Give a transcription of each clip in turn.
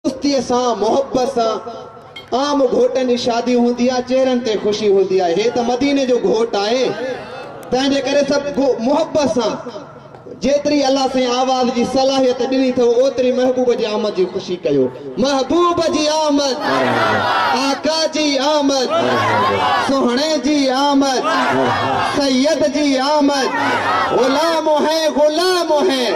دوستيء سان، محبت سان، عام گهوٽن جي شادي هوندي آهي، چهرن تي خوشي هوندي آهي، هي ته مديني جو گهوٽ آهي، تنهن جي ڪري سڀ ڪو محبت سان، جيتري الله سائين آواز جي صلاحيت ڏني اٿئو، اوتري محبوب جي آمد جي خوشي ڪيو. محبوب جي آمد، آقا جي آمد، سهڻي جي آمد، سيد جي آمد، غلام هين غلام هين.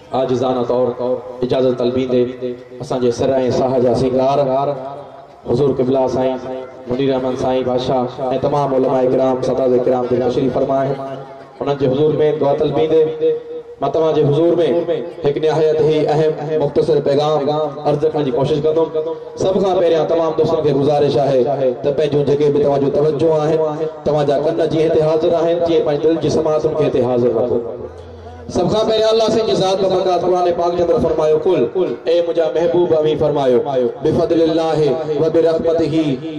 عاجزانه طور اجازت طلبيندي اسان جي سر ۽ ساهه جا سينگار حضور قبلا سائين منير احمد سائين بادشاهه ۽ تمام علماء ڪرام سادات ڪرام جيڪي تشريف فرما آهن انهن جي حضور ۾ دعا طلبيندي مان توهان جي حضور ۾ هڪ نهايت هي اهم مختصر پيغام عرض رکڻ جي ڪوشش ڪندم سڀ کان پهريان تمام دوستن کي گذارش آهي ته پنهنجون جيڪي به توهان جون توجهون آهن توهان جا ڪن جيئن هتي حاضر آهن تيئن پنهنجي دل جي سماعتن کي هتي حاضر رکو سڀ کان پهريان الله سائين جي ذات بابت قرآن پاڪ جي اندر فرمايو قل اي منهنجا محبوب اوهين فرمايو بفضل الله وبرحمته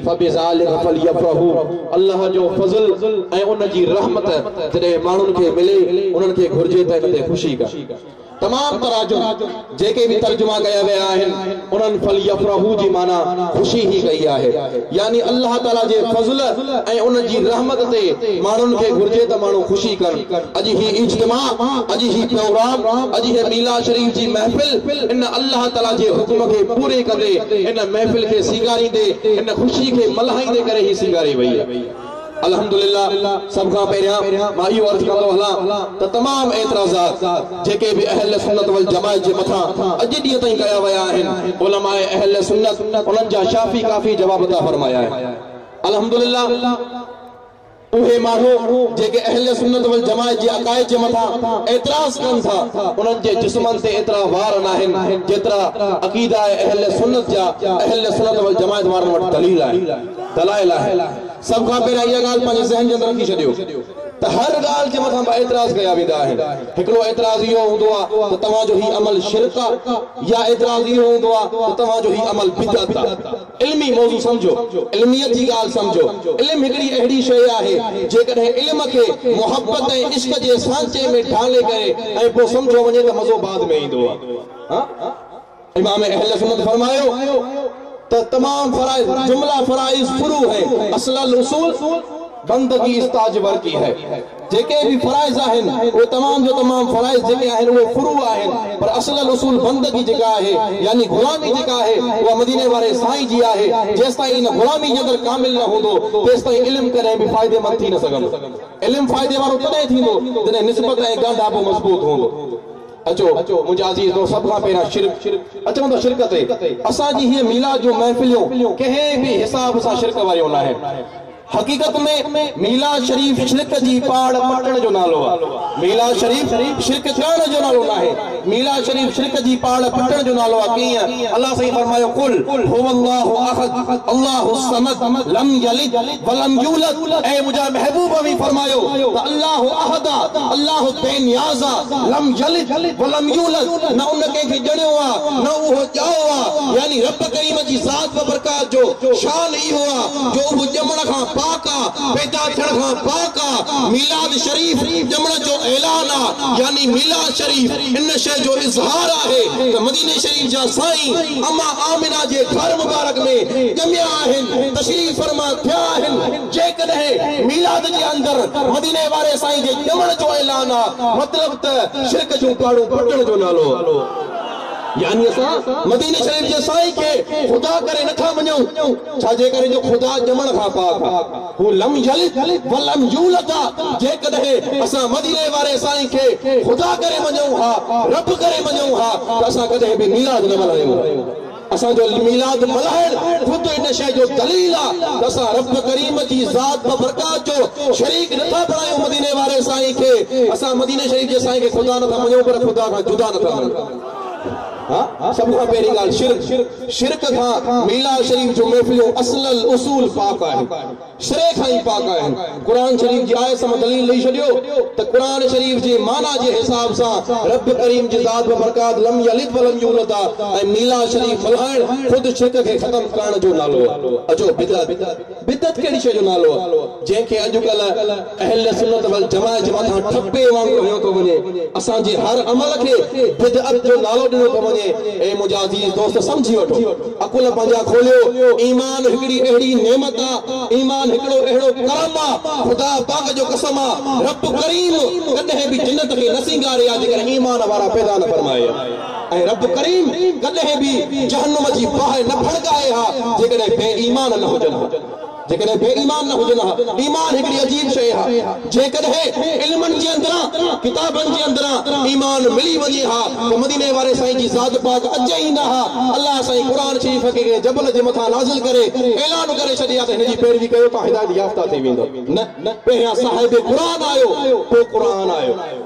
فبذلک فليفرحو الله جو فضل ۽ ان جي رحمت جڏهن ماڻهن کي ملي انهن کي گهرجي ته ان تي خوشي ڪن تمام تراجم جيڪي به ترجما ڪيا ويا آهن انهن فليفرحوا جي معنيٰ خوشي هي ڪئي آهي يعني الله تعالي جي فضل ۽ ان جي رحمت تي ماڻهن کي گهرجي ته ماڻهو خوشي ڪن اڄ هي اجتماع اڄ هي پروگرام اڄ هي ميلاد شريف جي محفل ان الله تعالي جي حڪم کي پوري ڪندي ان محفل کي سينگاريندي ان خوشي کي ملهائيندي ڪري هي سينگاري وئي الحمد لله سڀ کان پهريان مان اهو عرض ڪندو هلان ته تمام اعتراضات جيڪي به اهل سنت والجماعت جي مٿان اڄ ڏينهن تائين ڪيا ويا آهن علماء اهل سنت انهن جا شافي ڪافي جواب عطا فرمايا آهن الحمد لله اهي ماڻهو جيڪي اهل سنت والجماعت جي عقائد جي مٿان اعتراض ڪن ٿا انهن جي جسمن تي ايترا وار ناهن جيترا عقيده اهل سنت جا اهل سنت والجماعت وارن وٽ دليل آهن دلائل آهن. سڀ کان پهريان اها ڳالهه پنهنجي ذهن جي اندر رکي ڇڏيو ته هر ڳالهه جي مٿان ٻه اعتراض ڪيا ويندا آهن. هڪڙو اعتراض اهو هوندو آهي ته توهان جو هي عمل شرڪ آهي يا اعتراض اهو هوندو آهي ته توهان جو هي عمل بدعت آهي. علمي موضوع سمجهو، علميت جي ڳالهه سمجهو. علم هڪڙي اهڙي شيء آهي جيڪڏهن علم کي محبت ۽ عشق جي سانچي ۾ ڍالي ڪري ۽ پوء سمجهيو وڃي ته مزو بعد ۾ ايندو آهي. امام اهل سنت فرمايو ته تمام فرائض جمله فرائض فروع هي اصل الاصول بندگي استاج ورقي هي جيڪي به فرائض آهن اهي تمام جو تمام فرائض جيڪي آهن اهي فروع آهن پر اصل الاصول بندگي جيڪا آهي يعني غلامي جيڪا آهي اها مديني واري سائين جي آهي جيستائين ان غلامي جي اندر ڪامل نه هوندو تيستائين علم ڪڏهن به فائدي مند ٿي نه سگهندو علم فائدي وارو تڏهن ٿيندو جڏهن نسبت ۽ ڳانڍاپو مضبوط هوندو اچو منهنجا عزيز دوست سڀ کان پهريان شرڪ اچون ته شرڪ تي اسان جي هي ميلاد جون محفليون ڪنهن به حساب سان شرڪ واريون ناهن حقيقت ۾ ميلاد شريف شرڪ جي پاڙ پٽڻ جو نالو آ ميلاد شريف شرڪ ڪرڻ جو نالو ناهي ميلاد شريف شرڪ جي پاڙ پٽڻ جو نالو آ ڪيئن الله سائين فرمايو قل هو الله احد الله الصمد لم يلد ولم يولد اي منهنجا محبوب اوهين فرمايو ته الله احد آ الله بي نياز آ لم يلد ولم يولد نه ان ڪنهن کي ڄڻيو آ نه اهو ڄائو آ يعني رب ڪريم جي ذات وبرڪات جو شان اهو آ جو اهو ڄمڻ کان پاڪ آ پيدا ٿيڻ کان پاڪ آ ميلاد شريف ڄمڻ جو اعلان آ يعني ميلاد شريف ان شيء جو اظهار آهي ته مديني شريف جا سائين اما آمنه جي گهر مبارڪ ۾ ڄميا آهن، تشريف فرما ٿيا آهن، جيڪڏهن ميلاد جي اندر مديني واري سائين جي ڄمڻ جو اعلان آ مطلب ته شرڪ جون پاڙون پٽڻ جو نالو آ. يعني اسان مديني شريف جي سائين کي خدا ڪري نٿا مڃون، ڇا جي ڪري جو خدا ڄمڻ کان پاڪ آ. هو لم يلد ولم يولد آ، جيڪڏهن اسان مديني واري سائين کي خدا ڪري مڃون ها، رب ڪري مڃون ها ته اسان ڪڏهن به ميلاد نه ملهايون ها. اسان جو ميلاد ملهائڻ خود ان شيء جو دليل آ ته اسان رب ڪريم جي ذات ببرڪات جو شريڪ نه ٿا بڻايون مديني واري سائين کي، اسان مديني شريف جي سائين کي خدا نه ٿا مڃون پر خدا کان جدا نه ٿا مڃون. سڀ کان پهرين ڳالهه شرڪ، شرڪ کان ميلاد شريف جون محفلون اصل الاصول پاڪ آهن، سري کان ئي پاڪ آهن، قرآن شريف جي آيت سان دليل ڏئي ڇڏيو ته قرآن شريف جي معنيٰ جي حساب سان رب ڪريم جي ذات ببرڪات لم يلد ولم يولد آهي ۽ ميلاد شريف ملهائڻ خود شرڪ کي ختم ڪرڻ جو نالو آهي اچو بدعت بدعت ڪهڙي شيء جو نالو آهي، جنهن کي اڄڪلهه اهلسنت والجماعت جي مٿان ٺپي وانگر هنيو ٿو وڃي. اسان جي هر عمل کي بدعت جو نالو ڏنو ٿو وڃي. اي منهنجا عزيز دوست سمجهي وٺو. عقل پنهنجا کوليو. ايمان هڪڙي اهڙي نعمت آ، ايمان هڪڙو اهڙو ڪرم آ، خدا پاڪ جو قسم آ، رب ڪريم ڪڏهن به جنت کي نه سينگاري آ جيڪڏهن ايمان وارا پيدا نه فرمائي آ. ۽ رب ڪريم ڪڏهن به جهنم جي باهه نه ڦڙڪائي ها جيڪڏهن بي ايمان نه هجن ها جيڪڏهن بي ايمان نه هجن ها ايمان هڪڙي عجيب شيء ها جيڪڏهن علمن جي اندران ڪتابن جي اندران ايمان ملي وڃي ها ته مديني واري سائين جي ذات پاڪ اچي ئي نه ها الله سائين قرآن شريف کي ڪنهن جبل جي مٿان نازل ڪري اعلان ڪري ڇڏي ها ته هن جي پيروي ڪيو تان هدايت يافته ٿي ويندؤ نه پهريان صاحب قرآن آيو پوء قرآن آيو.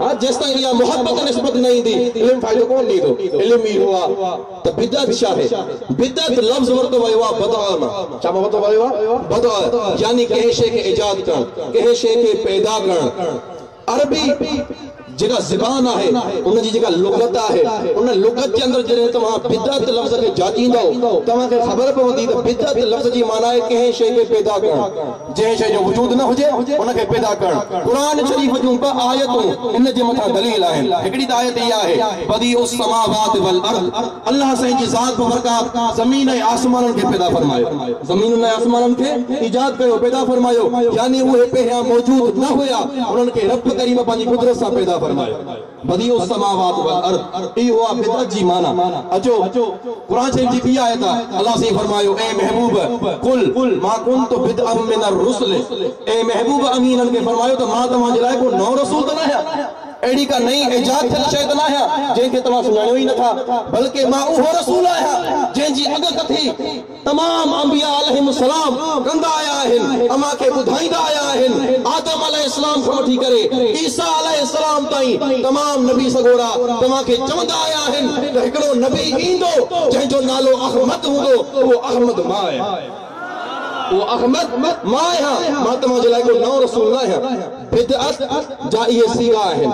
ها جيستائين اها محبت نسبت نه ايندي علم فائدو ڪونه ڏيندو علم اهو آ ته بدعت ڇا هي بدعت لفظ ورتو ويو آ بدء مان ڇا مان ورتو ويو آ بدء يعني ڪنهن شيء کي ايجاد ڪرڻ ڪنهن شيء کي پيدا ڪرڻ عربي جيڪا زبان آهي ان جي جيڪا لغت آهي ان لغت جي اندر جڏهن توهان بدعت لفظ کي جاچيندؤ توهان کي خبر پوندي ته بدعت لفظ جي معنيٰ آهي ڪنهن شيء کي پيدا ڪرڻ جنهن شيء جو وجود نه هجي، ان کي پيدا ڪرڻ. قرآن شريف جون ٻه آيتون ان جي مٿان دليل آهن. هڪڙي ته آيت اها آهي، بديع السماوات والارض، الله سائين جي ذات بابرڪات زمين ۽ آسمانن کي پيدا فرمايو. زمينن ۽ آسمانن کي ايجاد ڪيو، پيدا فرمايو، يعني اهي پهريان موجود نه هيا، انهن کي رب ڪريم پنهنجي قدرت سان پيدا فرمايو. بديع السماوات والارض اهو آهي بدعت جي معنيٰ اچو قرآن شريف جي ٻي آيت آهي الله سائين فرمايو اي محبوب قل ما ڪنت بدعا من الرسل اي محبوب اوهين انهن کي فرمايو ته مان توهان جي لاء ڪو نئون رسول ته ناهيان اهڙي ڪا نئين ايجاد ٿيل شيء ته ناهيان جنهن کي توهان سڃاڻيو ئي نٿا بلڪه مان اهو رسول آهيان جنهن جي اڳڪٿي تمام انبياء عليهم السلام ڪندا آيا آهن، اوهان کي ٻڌائيندا آيا آهن، آدم عليه السلام کان وٺي ڪري عيسيٰ عليه السلام تائين تمام نبي سڳورا توهان کي چوندا آيا آهن ته هڪڙو نبي ايندو جنهن جو نالو احمد هوندو اهو احمد مان آهيان. اهو احمد مان آهيان، مان توهان جي لاء ڪو نئون رسول نه آهيان. بدعت جا اهي صيغا آهن.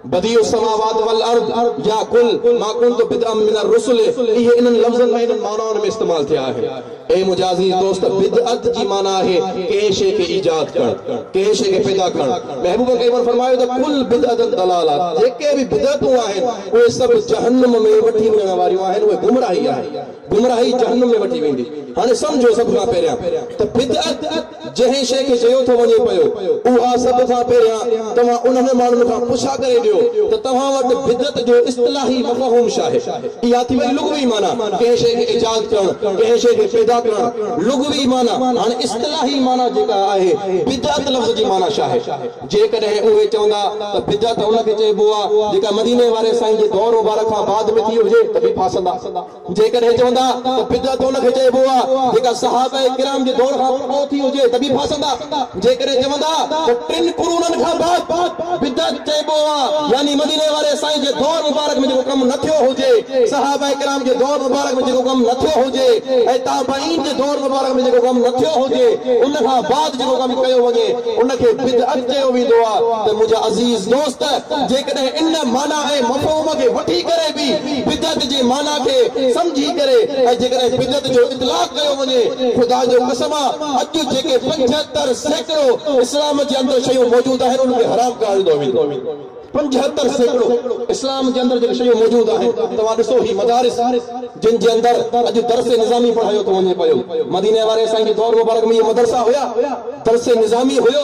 بديع السماوات والارض يا قل ما ڪنت بدعا من الرسل اهي انهن لفظن ۾ انهن معنائن ۾ استعمال ٿيا آهن. اي منهنجا عزيز دوست بدعت جي معنيٰ آهي ڪنهن شيء کي ايجاد ڪرڻ، ڪنهن شيء کي پيدا ڪرڻ. محبوب ڪريم ان فرمايو ته ڪل بدعة ضلالة جيڪي به بدعتون آهن اهي سڀ جهنم ۾ وٺي وڃڻ واريون آهن اهي گمراهي آهن گمراهي جهنم ۾ وٺي ويندي. هاڻي سمجهو سڀ کان پهريان ته بدعت جنهن شيء کي چيو ٿو وڃي پيو، اها سڀ کان پهريان توهان انهن ماڻهن کان پڇا ڪري ڏيو ته توهان وٽ بدعت جو اصطلاحي مفهوم ڇاهي؟ اها ٿي وئي لغوي معنيٰ، ڪنهن شيء کي ايجاد ڪرڻ، ڪنهن شيء کي پيدا ڪرڻ، لغوي معنيٰ. هاڻي اصطلاحي معنيٰ جيڪا آهي، بدعت لفظ جي معنيٰ ڇاهي؟ جيڪڏهن اهي چوندا ته بدعت ان کي چئبو آهي، جيڪا مديني واري سائين جي دور مبارڪ کان بعد ۾ ٿي هجي ته به ڦاسندا. جيڪڏهن چوندا ته بدعت ان کي چئبو آهي جيڪا صحابه ڪرام جي دور کان پوء ٿي هجي ته به ڦاسندا، جيڪڏهن چوندا ته ٽن قرونن کان بعد بدعت چئبو آهي يعني مديني واري سائين جي دور مبارڪ ۾ جيڪو ڪم نه ٿيو هجي، صحابه ڪرام جي دور مبارڪ ۾ جيڪو ڪم نه ٿيو هجي ۽ تابعين جي دور مبارڪ ۾ جيڪو ڪم نه ٿيو هجي ان کان بعد جيڪو ڪم ڪيو وڃي ان کي بدعت چيو ويندو آهي ته منهنجا عزيز دوست جيڪڏهن ان معنيٰ ۽ مفهوم کي وٺي ڪري به بدعت جي معنيٰ کي سمجهي ڪري ۽ جيڪڏهن بدعت جو اطلاق ڪيو وڃي، خدا جو قسم آ اڄ جيڪي پنجهتر سيڪڙو اسلام جي اندر شيون موجود آهن ان کي حرام قرار ڏنو ويندو. پنجهتر سيڪڙو اسلام جي اندر جيڪي شيون موجود آهن توهان ڏسو هي مدارس جن جي اندر اڄ درس نظامي پڙهايو ٿو وڃي پيو مديني واري سائين جي دور مبارڪ ۾ اهي مدرسا هيا درس نظامي هيو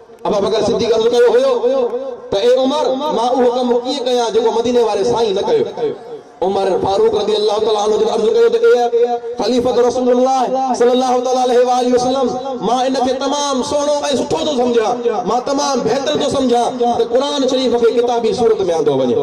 ابوبڪر صديق عرض ڪيو هيو ته اي عمر! مان اهو ڪم ڪيئن ڪيان جيڪو مديني واري سائين نه ڪيو. عمر فاروق رضي الله تعالٰي عنه جن عرض ڪيو ته اي خليفة رسول الله صلّي الله تعالٰي عليه واٰله وسلّم! مان ان کي تمام سهڻو ۽ سٺو ٿو سمجهان. مان تمام بهتر ٿو سمجهان ته قرآن شريف کي ڪتابي صورت ۾ آندو وڃي.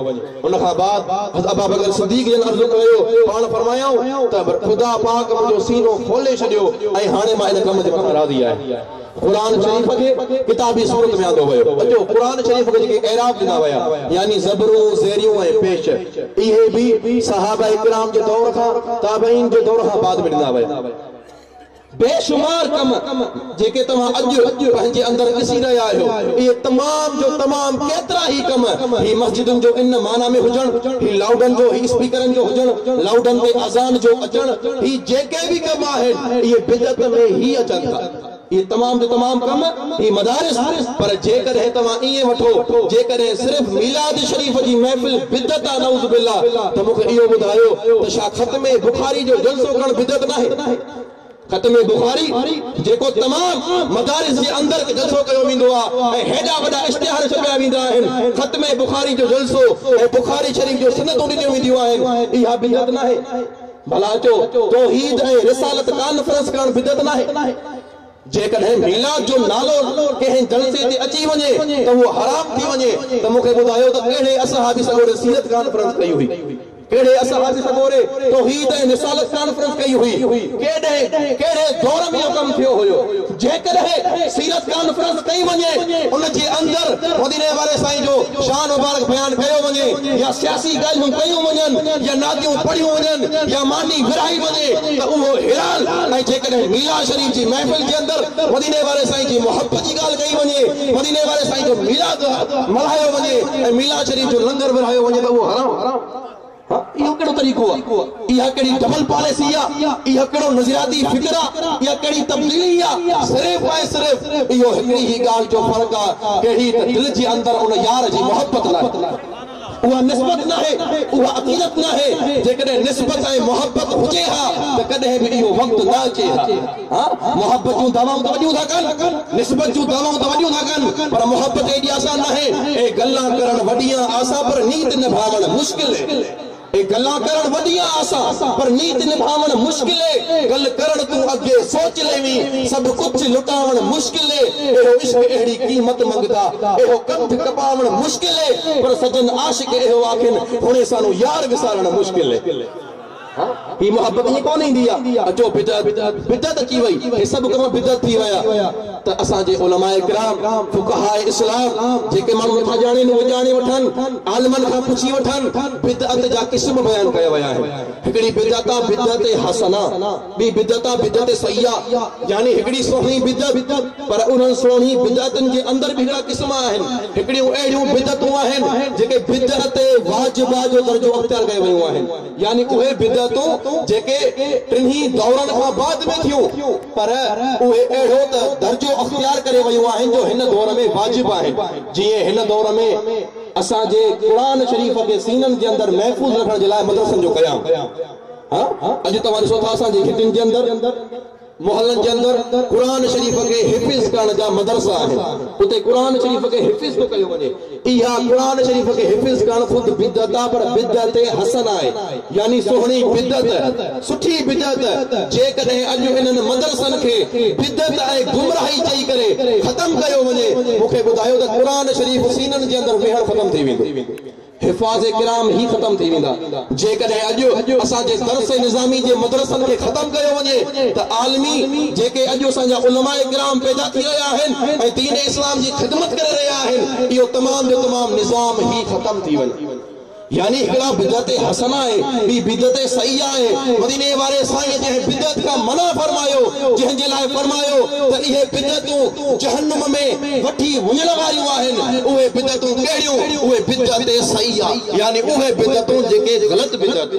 ان کان بعد حضرت ابوبڪر صديق جن عرض ڪيو ته پاڻ فرمايائون ته خدا پاڪ منهنجو سينو کولي ڇڏيو ۽ هاڻي مان ان ڪم جي مٿان راضي آهيان. قرآن شريف کي ڪتابي صورت ۾ آندو ويو. اچو قرآن شريف کي جيڪي اعراب ڏنا ويا يعني زبرون، زيريون ۽ پيش اهي به صحابه ڪرام جي دور کان تابعين جي دور کان بعد ۾ ڏنا ويا. بيشمار ڪم جيڪي توهان اڄ پنهنجي اندر ڏسي رهيا آهيو اهي تمام جو تمام ڪيترا ئي ڪم هي مسجدن جو ان معنيٰ ۾ هجڻ، هي لائوڊن جو، هي اسپيڪرن جو هجڻ، لائوڊن تي اذان جو اچڻ هي جيڪي به ڪم آهن اهي بدعت ۾ ئي اچن ٿا. اهي تمام جو تمام ڪم هي مدارس پر جيڪڏهن توهان ائين وٺو جيڪڏهن صرف ميلاد شريف جي محفل بدعت آ نعوذ بالله ته مون کي اهو ٻڌايو ته ڇا ختم بخاري جو جلسو ڪرڻ بدعت ناهي؟ ختم بخاري جيڪو تمام مدارس جي اندر جلسو ڪيو ويندو آ ۽ هيڏا وڏا اشتهار ڇپيا ويندا آهن ختم بخاري جو جلسو ۽ بخاري شريف جون سنتون ڏنيون وينديون آهن اها بدعت ناهي؟ ملاچو، توحيد ۽ رسالت ڪانفرنس ڪرڻ بدعت ناهي. جيڪڏهن ميلاد جو نالو ڪنهن جلسي تي اچي وڃي ته اهو حرام ٿي وڃي ته مون کي ٻڌايو ته ڪهڙي اصحابي سڳوري سيرت ڪانفرنس ڪئي هئي؟ ڪهڙي اصحابي سڳوري توحيد ۽ رسالت ڪانفرنس ڪئي هئي؟ ڪيڏهن ڪهڙي دور ۾ اهو ڪم ٿيو هيو؟ جيڪڏهن سيرت ڪانفرنس ڪئي وڃي، ان جي اندر مديني واري سائين جو شان مبارڪ بيان ڪيو وڃي يا سياسي ڳالهيون ڪيون وڃن يا نعتيون پڙهيون وڃن يا ماني ورهائي وڃي ته اهو هلال ۽ جيڪڏهن ميلاد شريف جي محفل جي اندر مديني واري سائين جي محبت جي ڳالهه ڪئي وڃي، مديني واري سائين جو ميلاد ملهايو وڃي ۽ ميلاد شريف جو لنگر ورهايو وڃي ته اهو حرام. ها اهو ڪهڙو طريقو آ؟ اها ڪهڙي ڊبل پاليسي آ؟ اهو ڪهڙو نظرياتي فڪر آ؟ اها ڪهڙي تبديلي آ؟ صرف ۽ صرف اهو هڪڙي ئي ڳالهه جو فرق آ، ڪهڙي ته دل جي اندر ان يار جي محبت ناهي. اها نسبت ناهي، اها عقيدت ناهي، جيڪڏهن نسبت ۽ محبت هجي ها ته ڪڏهن به اهو وقت نه اچي ها. ها محبت جون دعوائون ته وڏيون ٿا ڪن، نسبت جون دعوائون ته وڏيون ٿا ڪن، پر محبت ايڏي آسان ناهي. اهي گلان ڪرڻ وڏيان آسان پر نيت نڀاوڻ مشڪل اهي. اهي گلان ڪرڻ وڏيان آسان پر نيت نڀاوڻ مشڪل اهي. گل ڪرڻ تون اڳي سوچ ليوين، سڀ ڪجهه لٽاوڻ مشڪل اهي. اهو عشق اهڙي قيمت منگدا، اهو ڪنڌ ڪپاوڻ مشڪل اهي. پر سجن عاشق اهو آکين، هونئين سانو يار وسارڻ مشڪل اهي. هي محبت ائين ڪونه ايندي آ اچو بدعت بدعت اچي وئي هي سڀ ڪم بدعت ٿي ويا ته اسان جي علماء ڪرام فقهاء اسلام جيڪي ماڻهو نٿا ڄاڻين اهي ڄاڻي وٺن عالمن کان پڇي وٺن بدعت جا قسم بيان ڪيا ويا آهن هڪڙي بدعت آ بدعت حسنه ٻي بدعت آ بدعت سيئه يعني هڪڙي سهڻي بدعت پر انهن سهڻي بدعتن جي اندر به هڪڙا قسم آهن هڪڙيون اهڙيون بدعتون آهن جيڪي بدعت واجبه جو درجو اختيار ڪري ويون آهن يعني اهي بدعتون جيڪي ٽنهي دورن کان بعد ۾ ٿيون پر اهي اهڙو ته درجو اختيار ڪري ويون آهن جو هن دور ۾ واجب آهن جيئن هن دور ۾ اسان جي قرآن شريف کي سينن جي اندر محفوظ رکڻ جي لاء مدرسن جو قيام. اڄ توهان ڏسو ٿا اسان جي گهٽين جي اندر، محلن جي اندر قرآن شريف کي حفظ ڪرڻ جا مدرسا آهن، اتي قرآن شريف کي حفظ ٿو ڪيو وڃي. اها قرآن شريف کي حفظ ڪرڻ خود بدعت آهي پر بدعت حسنه آهي يعني سهڻي بدعت، سٺي بدعت، جيڪڏهن اڄ انهن مدرسن کي بدعت ۽ گمراهي چئي ڪري ختم ڪيو وڃي، مون کي ٻڌايو ته قرآن شريف سينن جي اندر ويهڻ ختم ٿي ويندو. حفاظ ڪرام هي ختم ٿي ويندا. جيڪڏهن اڄ اسان جي درس نظامي جي مدرسن کي ختم ڪيو وڃي ته عالمي جيڪي اڄ اسان جا علماء ڪرام پيدا ٿي رهيا آهن ۽ دين اسلام جي خدمت ڪري رهيا آهن اهو تمام جو تمام نظام هي ختم ٿي وڃي. يعني هڪڙا بدعت حسنه آهي ٻي بدعت سيئه آهي مديني واري سائين جنهن بدعت کان منع فرمايو جنهن جي لاء فرمايو ته اهي بدعتون جهنم ۾ وٺي وڃڻ واريون آهن اهي بدعتون ڪهڙيون اهي بدعت سيئه يعني اهي بدعتون جيڪي غلط بدعت،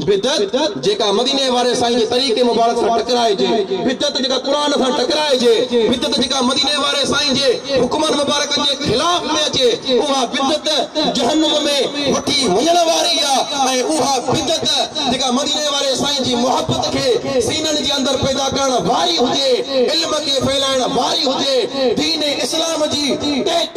بدعت جيڪا مديني واري سائين جي طريقي مبارڪ سان ٽڪرائجي، بدعت جيڪا قرآن سان ٽڪرائجي، بدعت جيڪا مديني واري سائين جي حڪمن مبارڪن جي خلاف ۾ اچي، اها بدعت جهنم ۾ وٺي وڃڻ واري آ ۽ اها بدعت جيڪا مديني واري سائين جي محبت کي سينن جي اندر پيدا ڪرڻ واري هجي، علم کي ڦهلائڻ واري هجي، دين اسلام جي ٽيڪ.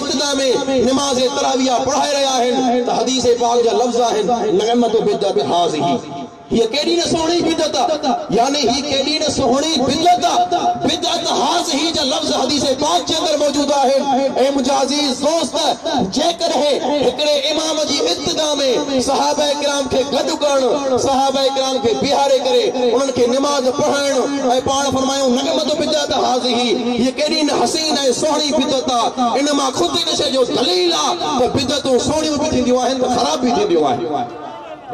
سجده ۾ نماز تراويح پڙهائي رهيا آهن ته حديث پاڪ جا لفظ آهن نعمت بدعت هاذه هيء ڪيڏي نه سهڻي بدعت يعني هي ڪيڏي نه سهڻي بدعت بدعت هاذه جا لفظ حديث پاڪ جي اندر موجود آهن اي منهنجا عزيز دوست جيڪڏهن هڪڙي امام جي اقتدا ۾ صحابه ڪرام کي گڏ ڪرڻ صحابه ڪرام کي بيهاري ڪري انهن کي نماز پڙهائڻ ۽ پاڻ فرمايون نعمت بدعت هاذه هيء ڪيڏي نه حسين ۽ سهڻي سهڻي بدعت آ، ان مان خود ان شيء جو دليل آ ته بدعتون سهڻيون به ٿينديون آهن ته خراب به ٿينديون آهن.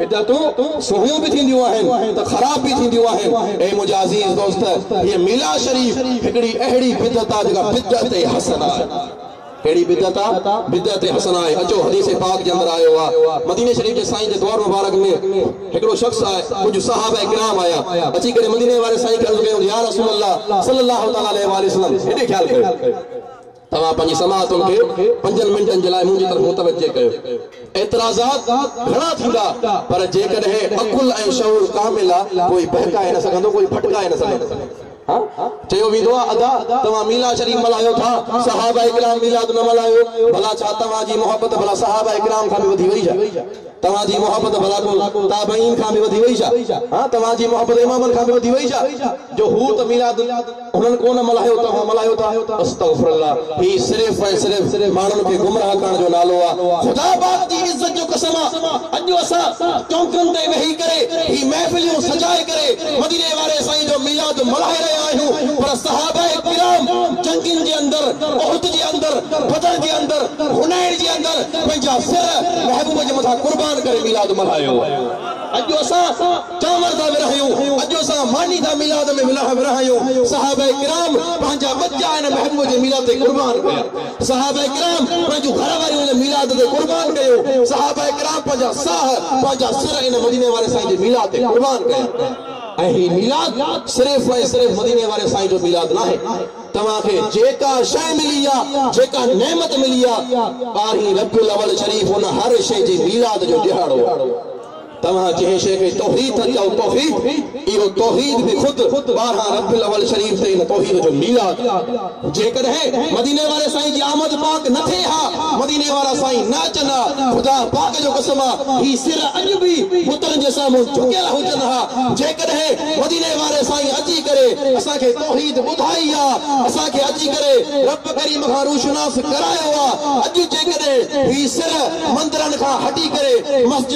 بدعتون سهڻيون به ٿينديون آهن ته خراب به ٿينديون آهن. اي منهنجا عزيز دوست! هيء ميلاد شريف هڪڙي اهڙي بدعت آ جيڪا بدعت حسنه آهي. ڪهڙي بدعت آ؟ بدعت حسنه آهي. اچو حديث پاڪ جي اندر آيو آ، مديني شريف جي سائين جي دؤر مبارڪ ۾. هڪڙو شخص آيو، ڪجهه صحابه ڪرام آيا، اچي ڪري مديني واري سائين کي عرض ڪيائون ته يا رسول الله صلّي الله تعالٰي عليه واٰله وسلّم هيڏي خيال ڪيو، توهان پنهنجي سماعتن کي پنجن منٽن جي لاء منهنجي طرف متوجه ڪيو. اعتراضات گهڻا ٿيندا، پر جيڪڏهن عقل ۽ شعور ڪامل آ، ڪوئي بهڪائي نه سگهندو، ڪوئي ڀٽڪائي نه سگهندو. چيو ويندو آهي ادا توهان ميلاد شريف ملهايو ٿا صحابه ڪرام ميلاد نه ملهايو ڀلا ڇا توهان جي محبت ڀلا صحابه ڪرام کان به وڌي وئي ڇا توهان جي محبت ڀلا تابعين کان به وڌي وئي ڇا ها توهان جي محبت امامن کان به وڌي وئي ڇا جو هو ته ميلاد هنن ڪونه ملهايو توهان ملهايو ٿا استغفر الله هي صرف ۽ صرف ماڻهن کي گمراهه ڪرڻ جو نالو آهي خدا پاڪ جي عزت جو قسم آهي اڄ اسان چونڪن تي ويهي ڪري هي محفليون سجائي ڪري مديني واري سائين جو ميلاد ملهائي رهيا آهيون پر صحابه ڪرام جنگين جي اندر احد جي اندر بدر جي اندر حنين جي اندر پنهنجا سر محبوب جي مٿان قربان ڪري ميلاد ملهايو اڄ جو اسان چانور ٿا ورهايون اڄ جو اسان ماني ٿا ميلاد ۾ ورهايون صحابه ڪرام پنهنجا ٻچا هن محبوب جي ميلاد تي قربان ڪيا. صحابه ڪرام پنهنجون گهر واريون هن ميلاد تي قربان ڪيون، صحابه ڪرام پنهنجا ساهه، پنهنجا سر هن مديني واري سائين جي ميلاد تي قربان ڪيا ۽ هي ميلاد صرف ۽ صرف مديني واري سائين جو ميلاد ناهي، توهان کي جيڪا شيء ملي آ، جيڪا نعمت ملي آ، ٻارهين ربيع الاول شريف ان هر شيء جي ميلاد جو ڏهاڙو آ. توهان جنهن شيء کي توحيد ٿا چئو توحيد اهو توحيد به خود ٻارهن ربيع الاول شريف تي ان توحيد جو ميلاد جيڪڏهن مديني واري سائين جي آمد پاڪ نه ٿئي ها مديني وارا سائين نه اچن ها خدا پاڪ جو قسم آ هي سر اڄ به بتن جي سامهون جهڪيل هجن ها جيڪڏهن مديني واري سائين اچي ڪري اسان کي توحيد ٻڌائي آ اسان کي اچي ڪري رب ڪريم کان روشناس ڪرايو آ اڄ جيڪڏهن هي سر مندرن کان هٽي ڪري مسجد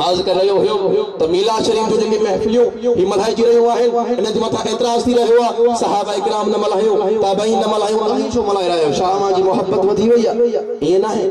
عرض ڪري رهيو هيم ته ميلاد شريف جون جيڪي محفليون هي ملهائجي رهيون آهن انهن جي مٿان اعتراض ٿي رهيو آهي صحابه ڪرام نه ملهايو تابعين نه ملهايو اوهين ڇو ملهائي رهيا آهيو ڇا اوهان جي محبت وڌي وئي آهي ائين ناهي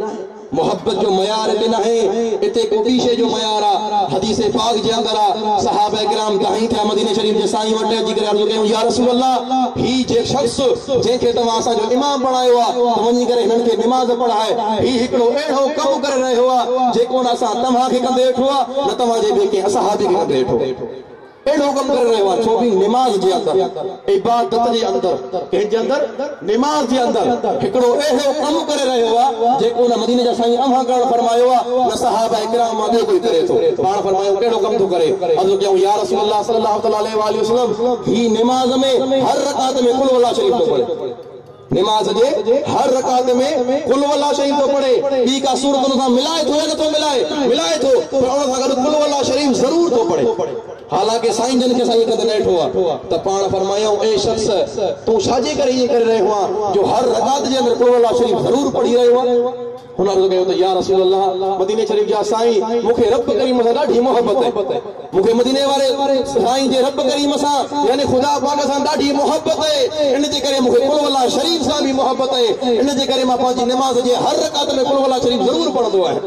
محبت جو معيار اتي ناهي اتي ڪو ٻي شيء جو معيار آهي حديث پاڪ جي اندر آهي صحابه ڪرام دانهين ٿيا مديني شريف جي سائين وٽ اچي ڪري عرض ڪيون يا رسول الله هي جي شخص جنهن کي توهان اسان جو امام بڻايو آهي ته وڃي ڪري هنن کي نماز پڙهاء هي هڪڙو اهڙو ڪم ڪري رهيو آ جيڪو نه اسان توهان کي ڪندي ڏٺو آ نه توهان جي ٻي ڪنهن اصحابي کي ڪندي ڏٺو اهڙو ڪم ڪري رهيو آ ڇو ڀي نماز جي اندر عبادت جي اندر ڪنهن جي اندر نماز جي اندر هڪڙو اهڙو ڪم ڪري رهيو آ جيڪو نه مديني جا سائين اوهان ڪرڻ فرمايو آ نه صحابه ڪرام مان ٻيو ڪوئي ڪري ٿو پاڻ فرمايو ڪهڙو ڪم ٿو ڪري عرض ڪيائون يا رسول الله صلي الله تعالي عليه واٰله وسلم هي نماز ۾ هر رڪعت ۾ قل هو الله شريف ٿو پڙهي نماز جي هر رڪعت ۾ قل هو الله شريف ٿو پڙهي، ٻي ڪا سورت ان سان ملائي ٿو يا نه ٿو ملائي؟ ملائي ٿو، پر ان سان گڏ قل هو الله شريف ضرور ٿو پڙهي. حالانڪ سائين جن کي اسان ائين ڪندي نه ڏٺو آهي ته پاڻ فرمايائون، اي شخص! تون ڇا جي ڪري ائين ڪري رهيو آهين جو هر رڪعت جي اندر قل هو الله شريف ضرور پڙهي رهيو آهين؟ هن عرض ڪيو ته يا رسول الله مديني شريف جا سائين مون کي رب ڪريم سان ڏاڍي محبت آهي مون کي مديني واري سائين جي رب ڪريم سان يعني خدا پاڪ سان ڏاڍي محبت آهي ان جي ڪري مون کي قل هو الله شريف سان به محبت آهي ان جي ڪري مان پنهنجي نماز جي هر رڪعت ۾ قل هو الله شريف ضرور پڙهندو آهيان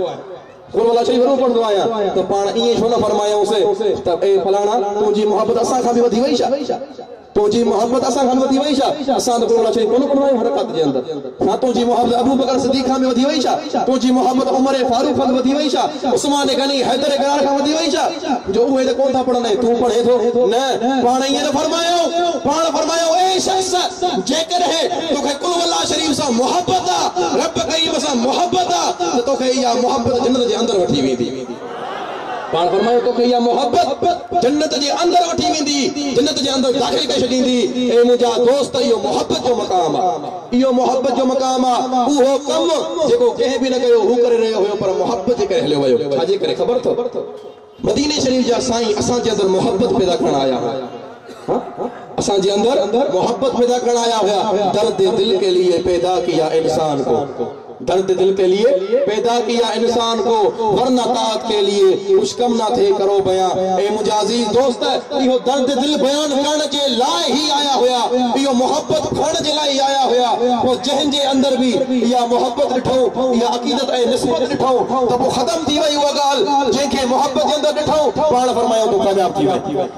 قل هو الله شريف ضرور پڙهندو آهيان ته پاڻ ائين ڇو نه فرمايائونس ته اي فلاڻا تنهنجي محبت اسان کان به وڌي وئي ڇا؟ تنهنجي محبت اسان کان وڌي وئي ڇا؟ اسان ته ڪورونا ڇڏي ڪونه ڪڍو آهيون هر ڪات جي اندر. ڇا تنهنجي محبت ابوبڪر صديق کان به وڌي وئي ڇا؟ تنهنجي محبت عمر فاروق کان به وڌي وئي ڇا؟ عثمان غني، حيدر قرار کان وڌي وئي ڇا؟ جو اهي ته ڪونه ٿا پڙهن ۽ تون پڙهين ٿو؟ نه، پاڻ ائين نه فرمايائون. پاڻ فرمايائون، اي شخص! جيڪڏهن تو کي قل هو الله شريف سان محبت آ، رب ڪريم سان محبت آ، ته تو کي اها محبت جنت جي اندر وٺي ويندي. پاڻ فرمايو توکي اها محبت جنت جي اندر وٺي ويندي، جنت جي اندر داخل ڪري ڇڏيندي، اي منهنجا دوست اهو محبت جو مقام آ، اهو محبت جو مقام آ، اهو ڪم جيڪو ڪنهن به نه ڪيو، هو ڪري رهيو هيو پر محبت جي ڪري هليو ويو، ڇا جي ڪري خبر اٿو؟ مديني شريف جا سائين اسان جي اندر محبت پيدا ڪرڻ آيا هئا. اسان جي اندر محبت پيدا ڪرڻ آيا هيا درد دل ڪي ليي پيدا ڪيا انسان ڪو درد دل ڪي ليي پيدا ڪيا انسان ڪو ورنه طاعت ڪي ليي ڪجھ ڪم نه ٿي ڪرو بيان اي منهنجا عزيز دوست اهو درد دل بيان ڪرڻ جي لاء هي آيا هيا اهو محبت کڻڻ جي لاء هي آيا هيا پوء جنهن جي اندر به اها محبت ڏٺئون اها عقيدت ۽ نسبت ڏٺئون ته پوء ختم ٿي وئي اها ڳالھ جنهن کي محبت جي اندر ڏٺئون پاڻ فرمايائون تون ڪامياب ٿي وئين.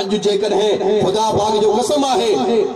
اڄ جيڪڏهن خدا پاڪ جو قسم آهي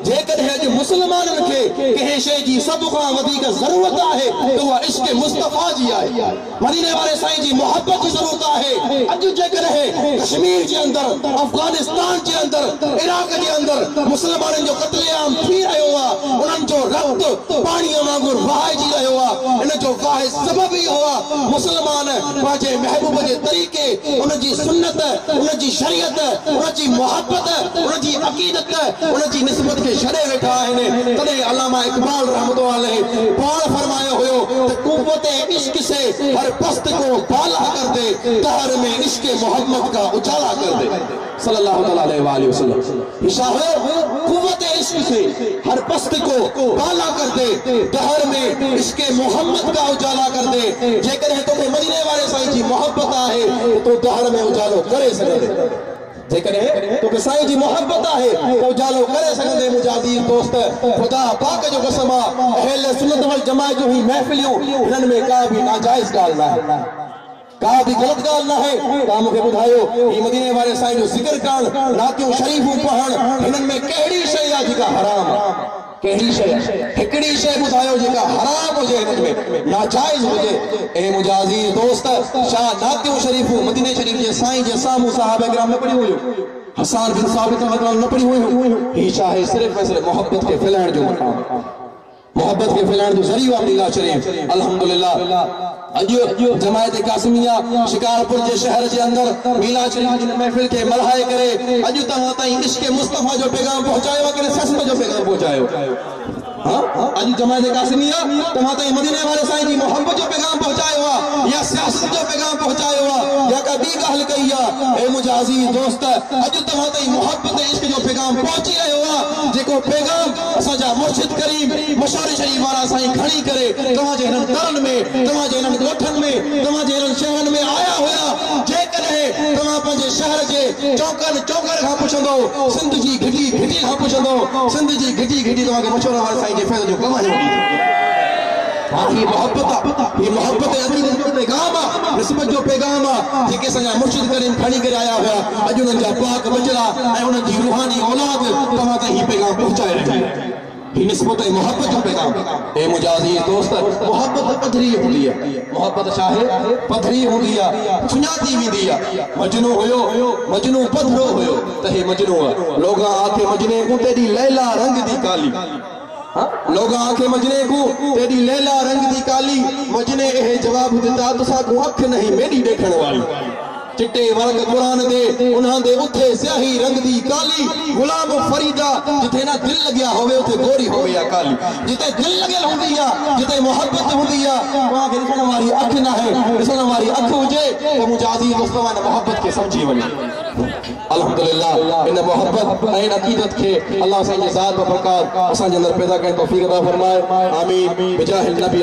جيڪڏهن اڄ مسلمانن کي ڪنهن شيء جي سڀ کان وڌيڪ ضرورت آهي ته اها عشق مصطفيٰ جي آهي مديني واري سائين جي محبت جي ضرورت آهي اڄ جيڪڏهن ڪشمير جي اندر افغانستان جي اندر عراق جي اندر مسلمانن جو قتل عام ٿي رهيو آهي انهن جو رت پاڻي وانگر وهائجي رهيو آهي ان جو واحد سبب اهو آهي مسلمان پنهنجي محبوب جي طريقي ان جي سنت ان جي شريعت، ان جي محبت، ان جي عقيدت، ان جي نسبت کي ڇڏي ويٺا آهن، تڏهن علامه اقبال رحمة الله عليه پاڻ فرمايو هيو ته قوت عشق سي هر پست ڪو بالا ڪر دي، قهر ۾ عشق محمد ڪا اجالا ڪر دي. صلّي الله تعالٰي عليه واٰله وسلّم. شاهه قوت عشق سي هر پست ڪو بالا ڪر دي دهر ۾ عشق محمد ڪا اجالا ڪر دي جيڪڏهن توکي مديني واري سائين جي محبت آهي ته تون دهر ۾ اجالو ڪري سگهندين جيڪڏهن توکي سائين جي محبت آهي ته اجالو ڪري سگهندين منهنجا عزيز دوست خدا پاڪ جو قسم آ اهل سنت والجماعت جون هي محفليون هنن ۾ ڪا به ناجائز ڳالهه ناهي. ڪا به غلط ڳالهه ناهي. توهان مون کي ٻڌايو، هي مديني واري سائين جو ذڪر ڪرڻ، نعتيون شريفون پڙهڻ، هنن ۾ ڪهڙي شيء آ جيڪا حرام آ؟ ڪهڙي شيء آ؟ هڪڙي شيء ٻڌايو جيڪا حرام هجي هنن ۾، ناجائز هجي. اي منهنجا عزيز دوست! ڇا نعتيون شريفون مديني شريف جي سائين جي سامهون صحابه ڪرام نه پڙهيون هيون؟ حسان بن ثابت رحمة الله عنه نه پڙهيون هيون؟ هي ڇا آهي؟ صرف ۽ صرف محبت کي ڦهلائڻ جو مقام. محبت کي ڦھلائڻ جو ذريعو آھي ميلا شريف الحمدلله اڄ جماعت قاسميه شڪارپور جي شهر جي اندر ميلا شريف جي ان محفل کي ملھائي ڪري اڄ توهان تائين عشق مصطفيٰ جو پيغام پهچايو ڪنھن سسٽم جو پيغام پهچايو ها اڄ جماعت قاسميه توهان تائين مديني واري سائين جي محبت جو پيغام پهچايو آ يا سياست جو پيغام پهچايو آ يا ڪا ٻي ڳالھ ڪئي آ اي منھنجا عزيز دوست اڄ توهان تائين محبت ۽ عشق جو پيغام پهچي رهيو آ جيڪو پيغام اسان جا مرشد ڪريم مشاري شريف وارا سائين کڻي ڪري توهان جي هنن ترن ۾ توهان جي هنن ڳوٺن ۾ توهان جي هنن شهرن ۾ آيا هيا جيڪڏهن توهان پنهنجي شهر جي چونڪن چونڪن کان پڇندو سنڌ جي گهٽي گهٽي کان پڇندو سنڌ جي گهٽي گهٽي توهان کي مشورو واري سائين جي فيض جو ڪم هيو ڏيندو. ها هي محبت آ هي محبت ۽ عقيدت جو پيغام آ نسبت جو پيغام آ جيڪي اسان جا مرشد ڪريم کڻي ڪري آيا هيا اڄ انهن جا پاڪ ٻچڙا ۽ انهن جي روحاني اولاد توهان تائين هي پيغام پهچائي رهي آهي هي نسبت ۽ محبت جو پيغام آ اي منهنجا عزيز دوست محبت پڌري هوندي آ محبت ڇا آهي پڌري هوندي آ سڃاتي ويندي آ مجنون هيو مجنون پڌرو هيو ته هي مجنون آ لوگان آکي مجنين ڪون تيڏي ليلا رنگ دي ڪالي. لوگا آکي مجني ڪو، تيڏي ليلا رنگ دي ڪالي، مجني اهي جواب دتا، تسا ڪون اک نهين ميڏي ڏيکڻ واري. چٽي ورق قرآن دي، انهان دي اٿي سياهي رنگ دي ڪالي، غلام فريدا جتي نه دل لڳيا هوي اٿي گوري هوي يا ڪالي، جتي دل لڳيل هوندي يا جتي محبت هوندي يا اوهان کي ڏسڻ واري اک ناهي، ڏسڻ واري اک هجي ته منهنجا عزيز دوست اوهان ان محبت کي سمجهي وڃن. الحمد لله ان محبت ۽ ان عقيدت کي الله سائين جي ذات بابرڪات اسان جي اندر پيدا ڪرڻ جي توفيق عطا فرمائي آمين بجاه النبي.